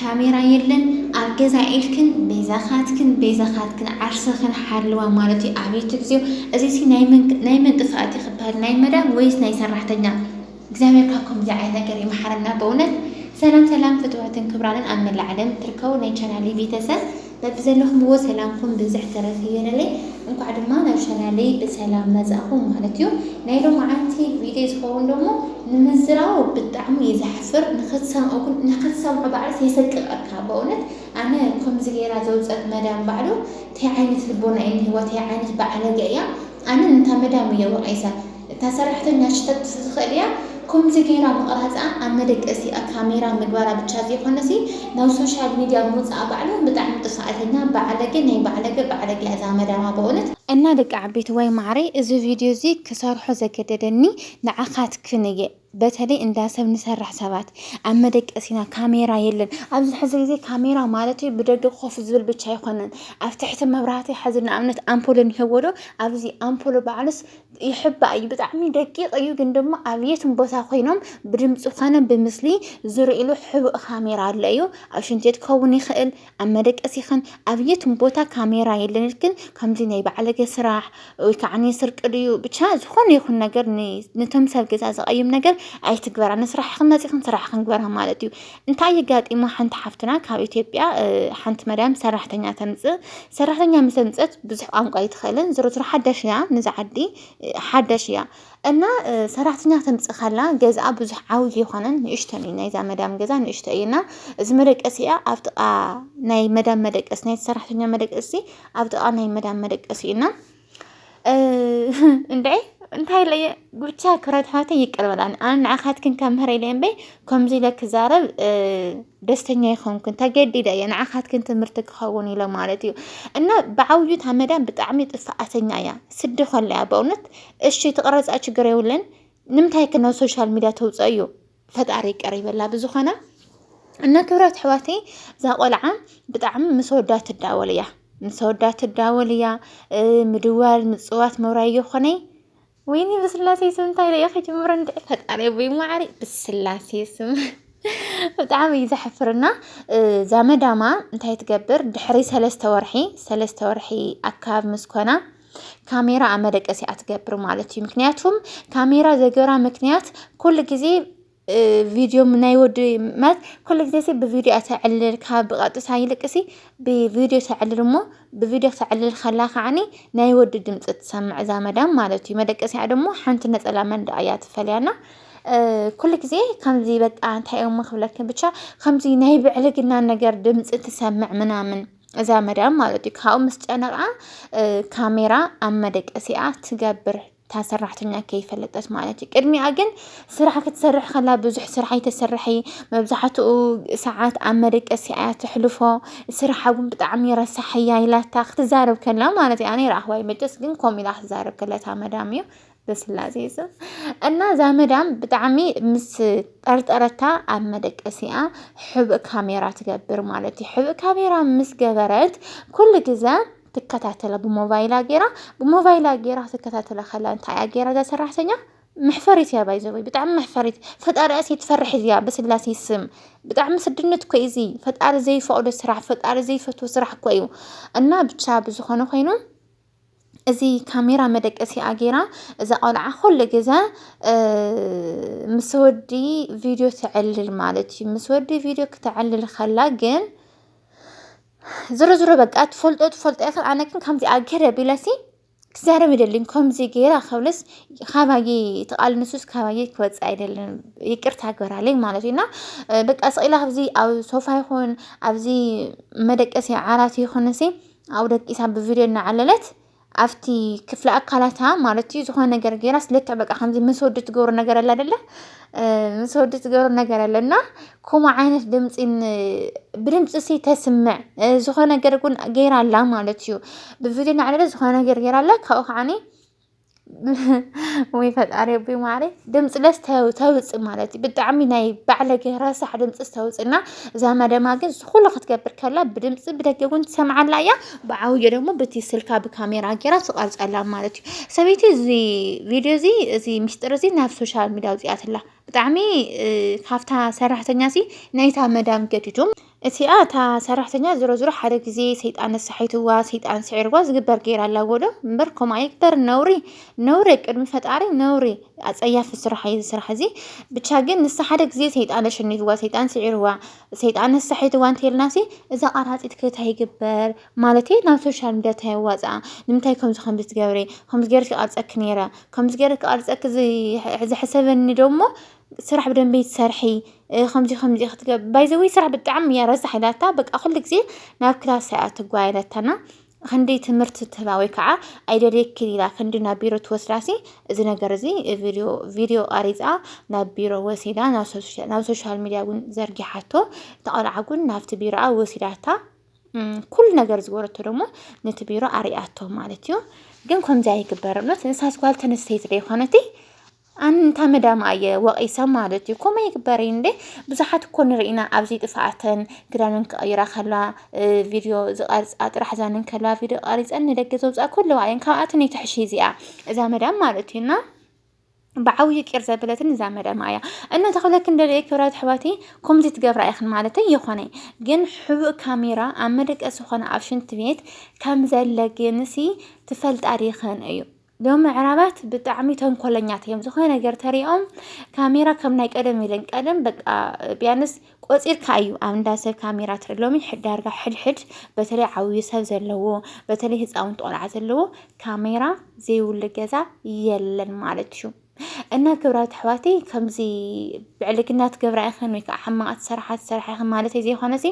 ካሜራ የለን ኣብ ገዛ ኢልክን ቤዛኻትክን ቤዛኻትክን ዓርሰኽን ሓልዋ ማለት እዩ ኣቤት እግዚኦ እዚሲ ናይ መን ናይ መን ጥፍኣት እዩ ክበሃል ናይ መዳም ወይስ ናይ ሰራሕተኛ እግዚኣብሔር ካብ ከምዚ ዓይነት ነገር ይምሓረና በእውነት ሰላም ሰላም ፍትዋትን ክብራንን ኣብ መላእ ዓለም ትርከቡ ናይ ቻናሊ ቤተሰብ በብዘለኹምዎ ሰላምኩም ብዝሕ ተረፍ ይበለለይ እንኳዕ ድማ ናብ ቻናለይ ብሰላም መፃእኹም ማለት እዩ ናይ ሎማዓንቲ ቪድዮ ዝኸውን ደሞ ንምዝራቡ ብጣዕሚ እዩ ዘሕፍር ንክትሰምኦ ግን ንክትሰምዖ ባዕልስ የሰቅቀካ በእውነት ኣነ ከምዚ ገይራ ዘውፀት መዳም ባዕሉ ታይ ዓይነት ልቦና እዩ እኒሀዋ ታይ ዓይነት ባዓለገ እያ ኣነ ንታ መዳም እየ ወቂሰ እታ ሰራሕተኛ ሽተት ዝኽእል እያ ኮምዚ ገይራ ምቕራጻ ኣብ መደቀሲኣ ካሜራ ምግባራ ብቻ ዘይኮነሲ ናብ ሶሻል ሚድያ ምውጻኣ ባዕሉ ብጣዕሚ ጥፍኣተኛ ባዓለገ ናይ ባዕለገ ባዕለገ እያ እዛ መዳማ በእውነት። እና ደቂ ዓበይቲ ዋይ ማዓረይ እዚ ቪድዮ እዚ ክሰርሖ ዘገደደኒ ንዓካትክን እየ። በተለይ እንዳ ሰብ ንሰርሕ ሰባት ኣብ መደቀሲና ካሜራ የለን። ኣብዚ ሕዚ ግዜ ካሜራ ማለት ብደገ ኮፍ ዝብል ብቻ ኣይኮነን፣ ኣብ ትሕቲ መብራህቲ ሕዚ ንኣብነት ኣምፖል እንሄዎዶ ኣብዚ ኣምፖሎ ባዕሉስ ይሕባእ እዩ። ብጣዕሚ ደቂቕ እዩ፣ ግን ድማ ኣብ የትም ቦታ ኮይኖም ብድምፂ ኮነ ብምስሊ ዝርእሉ ሕቡእ ካሜራ ኣሎ እዩ። ኣብ ሽንት ቤት ክኸውን ይኽእል ኣብ መደቀሲ ኸን ኣብ የትም ቦታ ካሜራ የለን ልክን ከምዚ ናይ ባዕለገ ስራሕ ወይ ከዓ ስርቂ ድዩ ብቻ ዝኾነ ይኹን ነገር ንቶም ሰብ ገዛ ዘቐይም ነገር ኣይትግበራ ንስራሕ ኽን መፂኽን ስራሕ ክንግበራ ማለት እዩ እንታይ የጋጢሞ ሓንቲ ሓፍትና ካብ ኢትዮጵያ ሓንቲ መድያም ሰራሕተኛ ተምፅእ ሰራሕተኛ ምስ ኣምፀት ብዙሕ ቋንቋ ኣይትኽእልን ዝሮ ዝሮ ሓዳሽ እያ ንዛ ዓዲ ሓዳሽ እያ እና ሰራሕተኛ ክትምፅእ ከላ ገዝኣ ብዙሕ ዓብዪ ኣይኮነን ንእሽቶን እዩ ናይዛ መዳም ገዛ ንእሽቶ እዩ እና እዚ መደቀሲ እያ ኣብ ጥቃ ናይ መዳም መደቀሲ ናይ ሰራሕተኛ መደቀሲ ኣብ ጥቃ ናይ መዳም መደቀሲ እዩ እና እንደ እንታይ ኢለ እየ ብቻ ክብረት ኣሕዋተይ ይቅር በላኒ ኣነ ንዓኻትክን ከምህረ ኢለ እምበይ ከምዚ ኢለ ክዛረብ እ፣ ደስተኛ ይኸንኩን ተገዲደ እየ ንዓኻትክን ትምህርቲ ክኸውን ኢለ ማለት እዩ እና ብዓብዩ ታመዳን ብጣዕሚ ጥፍኣተኛ እያ ስዲ ኮለያ በእውነት እሺ ትቕረፃ ችግር የብለን ንምንታይ ከ ናብ ሶሻል ሚድያ ተውፅኦ እዩ ፈጣሪ ይቅር ይበላ ብዝኾነ እና ክብራት ኣሕዋተይ እዛ ቆልዓ ብጣዕሚ ምስ ወዳ ትዳወል እያ ምስ ወዳ ትዳወል እያ ምድዋል ምፅዋት መውራይ የኾነይ ወይኒ ብስላሴ ስም እንታይ ኢለ እየ ክጅምሮ እንድዒ ፈጣሪ ኣቦይ ማዕሪ ብስላሴ ስም ብጣዕሚ እዩ ዘሕፍርና እዛ መዳማ እንታይ ትገብር ድሕሪ ሰለስተ ወርሒ ሰለስተ ወርሒ ኣካብ ምስ ኮና ካሜራ ኣብ መደቀሲኣ ትገብር ማለት እዩ ምክንያቱም ካሜራ ዘገራ ምክንያት ኩሉ ግዜ ቪድዮ ናይ ወዲ ማለት ኩሉ ግዜ ሲ ብቪድዮ እያ ተዕልል ካብ ብቐጥታ ይልቅ ሲ ብቪድዮ ተዕልል እሞ ብቪድዮ ተዕልል ከላ ከዓኒ ናይ ወዲ ድምፂ ትሰምዕ እዛ መዳም ማለት እዩ መደቀሲኣ ደግሞ ሓንቲ ነፀላ መንደኣ እያ ትፈልያና ኩሉ ግዜ ከምዚ በቃ እንታይ እሞ ክብለክን ብቻ ከምዚ ናይ ብዕልግና ነገር ድምፂ ትሰምዕ ምናምን እዛ መዳም ማለት እዩ ካብኡ ምስ ጨነቃ ካሜራ ኣብ መደቀሲኣ ትገብር እታ ሰራሕተኛ ከይፈለጠት ማለት እዩ ቅድሚኣ ግን ስራሕ ክትሰርሕ ከላ ብዙሕ ስራሕ ኣይተሰርሐ መብዛሕትኡ ሰዓት ኣብ መደቀሲ እያ ተሕልፎ ስራሓ እውን ብጣዕሚ ረሳሕ እያ ኢላታ ክትዛረብ ከላ ማለት እዩ ኣነ ረኣኽዋይ መጨስ ግን ከምኡ ኢላ ክትዛረብ ከላ እታ መዳም እዩ በስላሴ ስም እና እዛ መዳም ብጣዕሚ ምስ ጠርጠረታ ኣብ መደቀሲኣ ሕብእ ካሜራ ትገብር ማለት እዩ ሕብእ ካሜራ ምስ ገበረት ኩሉ ግዘ ትከታተላ ብሞባይላ ጌራ ብሞባይላ ጌራ ትከታተላ ከላ እንታይ እያ ጌራ እዛ ሰራሕተኛ መሕፈሪት እያ ባይዘወይ ብጣዕሚ መሕፈሪት ፈጣሪኣ ትፈርሕ እዚኣ ብስላሴ ስም ብጣዕሚ ስድነት እኮ እዚ ፈጣሪ ዘይፈቕዶ ስራሕ ፈጣሪ ዘይፈትዎ ስራሕ እኮ እዩ እና ብቻ ብዝኾነ ኮይኑ እዚ ካሜራ መደቀሲኣ ጌራ እዛ ቆልዓ ኩሉ ግዘ ምስ ወዲ ቪድዮ ተዕልል ማለት እዩ። ምስ ወዲ ቪድዮ ክተዕልል ከላ ግን ዝሮ ዝሮ በቃ ትፈልጦ ትፈልጦ ኢኺ ኣነ ግን ከምዚኣ ገይረ ቢለሲ ክዛረብ ይደልን ከምዚ ገይራ ክብልስ ካባየ ትቓል ንሱስ ካባየ ክወፅእ ኣይደልን ይቅርታ ግበራለይ ማለት እዩ እና በቃ ስቕ ኢላ ኣብዚ ኣብ ሶፋ ይኹን ኣብዚ መደቀሲ ዓራት ይኹን እሲ ኣብኡ ደቂሳ ብቪድዮ እናዓለለት ኣብቲ ክፍለ ኣካላታ ማለት እዩ ዝኾነ ነገር ገይራ ስለክዕ በቃ ከምዚ ምስ ወዲ ትገብሮ ነገር ኣለ ኣደለ ምስ ወዲ ትገብሮ ነገር ኣለ እና ከምኡ ዓይነት ድምፂ ብድምፂ ሲ ተስምዕ ዝኾነ ነገር እውን ገይራ ኣላ ማለት እዩ ብቪድዮ እናዓለለት ዝኾነ ነገር ገይራ ኣላ ካብኡ ከዓኒ ወይ ፈጣሪ ኣቦይ ማዕረይ ድምፂ ለስ ተውፅእ ማለት እዩ ብጣዕሚ ናይ ባዕለገ ረሳሕ ድምፂ ዝተውፅእ እና እዛ መደማ ግን ዝኩሉ ክትገብር ከላ ብድምፂ ብደገ እውን ትሰምዓላ እያ ብዓውዮ ደግሞ በቲ ስልካ ብካሜራ ጌራ ትቀርፀላ ማለት እዩ ሰበይቲ እዚ ቪድዮ እዚ እዚ ምስጢር እዚ ናብ ሶሻል ሚዲያ ኣውፂኣትላ ብጣዕሚ ካብታ ሰራሕተኛ ሲ ናይታ መዳም ገዲዱ እቲኣ እታ ሰራሕተኛ ዝሮዝሮ ሓደ ግዜ ሰይጣን ኣሳሒትዋ ሰይጣን ስዒርዋ ዝግበር ገይራ ኣላ ጎዶ እምበር ከምኡ ኣይግበር ነውሪ ነውሪ ቅድሚ ፈጣሪ ነውሪ ኣጸያፊ ስራሕ እዩ ዝስራሕ እዚ ብቻ ግን ንሳ ሓደ ግዜ ሰይጣን ኣሸኒፍዋ ሰይጣን ስዒርዋ ሰይጣን ኣሳሒትዋ እንተልናሲ እዛ ቃራጺት ክታ ይግበር ማለት እዩ ናብ ሶሻል ሚዲያ ታየዋጽኣ ንምንታይ ከምዚ ከምዚ ትገብሪ ከምዚ ገይርኪ ቀርጸኪ ነይረ ከምዚ ገይረ ክቀርጸኪ ዝሕሰበኒ ዶሞ ስራሕ ብደንቢ ትሰርሒ ከምዚ ከምዚ ክትገብ ባይዘወይ ስራሕ ብጣዕሚ እያ ረሳሕ ኢላታ በቃ ኩሉ ግዜ ናብ ክላስ እያ ትጓ ኢላታና ክንዲ ትምህርቲ ትህባ ወይ ከዓ ኣይደልየክን ኢላ ክንዲ ናብ ቢሮ ትወስዳሲ እዚ ነገር እዚ ቪድዮ ቪድዮ ቀሪፃ ናብ ቢሮ ወሲዳ ናብ ሶሻል ሚዲያ እውን ዘርጊሓቶ እቲ ቆልዓ እውን ናብቲ ቢሮኣ ወሲዳታ ኩሉ ነገር ዝበረቶ ደሞ ነቲ ቢሮ ኣርያቶ ማለት እዩ ግን ከምዚ ኣይግበርነት ንሳስ ጓል ተነስተይቲ ዘይኮነቲ ኣንታ መዳም ኣየ ወቒሳ ማለት እዩ ኮመ ይግበሪ እንዴ ብዙሓት እኮ ንርኢና ኣብዚ ጥፍኣተን ክዳንን ክቐይራ ከላ ቪድዮ ዝቐርፃ ጥራሕ ዛንን ከላ ቪድዮ ቀሪፀን ንደገ ዘውፅኣ ከለዋ እየን ካብኣተን ይትሕሽ እዚኣ እዛ መዳም ማለት እዩ እና ብዓብዩ ቂር ዘበለትን እዛ መዳም እያ እና ተኽብለክን ደለየ ክብራት ኣሕዋቲ ከምዚ ትገብራ ኢኽን ማለት ይኾነ ግን ሕቡእ ካሜራ ኣብ መደቀሲ ዝኾነ ኣብ ሽንት ቤት ከም ዘለ ግንሲ ትፈልጣ ዲኽን እዩ ዶ ምዕራባት ብጣዕሚ ተንኮለኛት እዮም። ዝኾነ ነገር ተሪኦም ካሜራ ከም ናይ ቀደም ኢለን ቀደም በቃ ቢያንስ ቆፂርካ እዩ ኣብ እንዳ ሰብ ካሜራ ትርኢ ሎሚ ዳርጋ ሕድሕድ በተለይ ዓብዪ ሰብ ዘለዎ በተለይ ህፃውንቲ ቆልዓ ዘለዎ ካሜራ ዘይብሉ ገዛ የለን ማለት እዩ። እና ክብራት ኣሕዋቲ ከምዚ ብዕልግና ትገብራ ኢኽን ወይ ከዓ ሕማቕ ትሰርሓ ትሰርሓ ኢኽን ማለት ዘይኮነሲ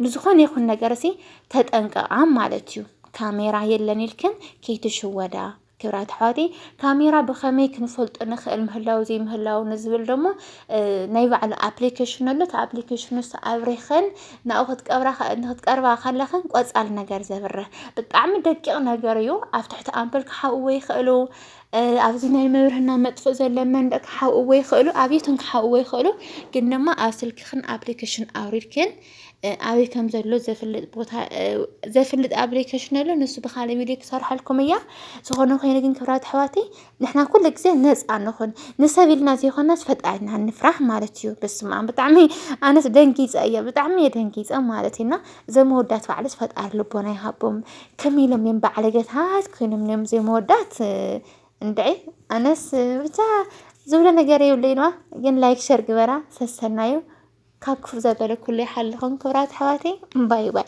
ንዝኾነ ይኹን ነገር ሲ ተጠንቀቃ ማለት እዩ ካሜራ የለን ኢልክን ከይትሽወዳ ክብራት ኣሕዋተይ ካሜራ ብኸመይ ክንፈልጦ ንኽእል ምህላው ዘይምህላው ንዝብል ደሞ ናይ ባዕሉ ኣፕሊኬሽን ኣሎ እቲ ኣፕሊኬሽን ንሱ ኣብሪኸን ናብኡ ክትቀርባ ከለኽን ቆፃል ነገር ዘብርህ ብጣዕሚ ደቂቕ ነገር እዩ ኣብ ትሕቲ ኣምፐል ክሓውዎ ይኽእሉ ኣብዚ ናይ መብርህና መጥፍእ ዘሎ መንደቅ ክሓውእዎ ይኽእሉ ኣብየቶም ክሓውእዎ ይኽእሉ ግን ድማ ኣብ ስልክኽን ኣፕሊኬሽን ኣውሪድክን ኣበይ ከም ዘሎ ዘፍልጥ ቦታ ዘፍልጥ ኣፕሊኬሽን ኣሎ ንሱ ብካልእ ቪድዮ ክሰርሐልኩም እያ ዝኾነ ኮይኑ ግን ክብራት ኣሕዋተይ ንሕና ኩሉ ግዜ ነፃ ንኹን ንሰብ ኢልና ዘይኮናስ ፈጣሪና ንፍራሕ ማለት እዩ በስመ ኣብ ብጣዕሚ ኣነስ ደንጊፀ እየ ብጣዕሚ እየ ደንጊፀ ማለት እዩ እና እዞም መወዳት ባዕልስ ፈጣሪ ልቦና ይሃቦም ከመይ ኢሎም እዮም ባዓለገታት ኮይኖም እዮም ዘይመወዳት እንድዒ ኣነስ ብቻ ዝብሎ ነገር የብለይ ነዋ ግን ላይክ ሸር ግበራ ሰሰናዩ ካብ ክፉእ ዘበለ ኩሉ ይሓልኹም ክብራት ኣሕዋተይ ባይ ባይ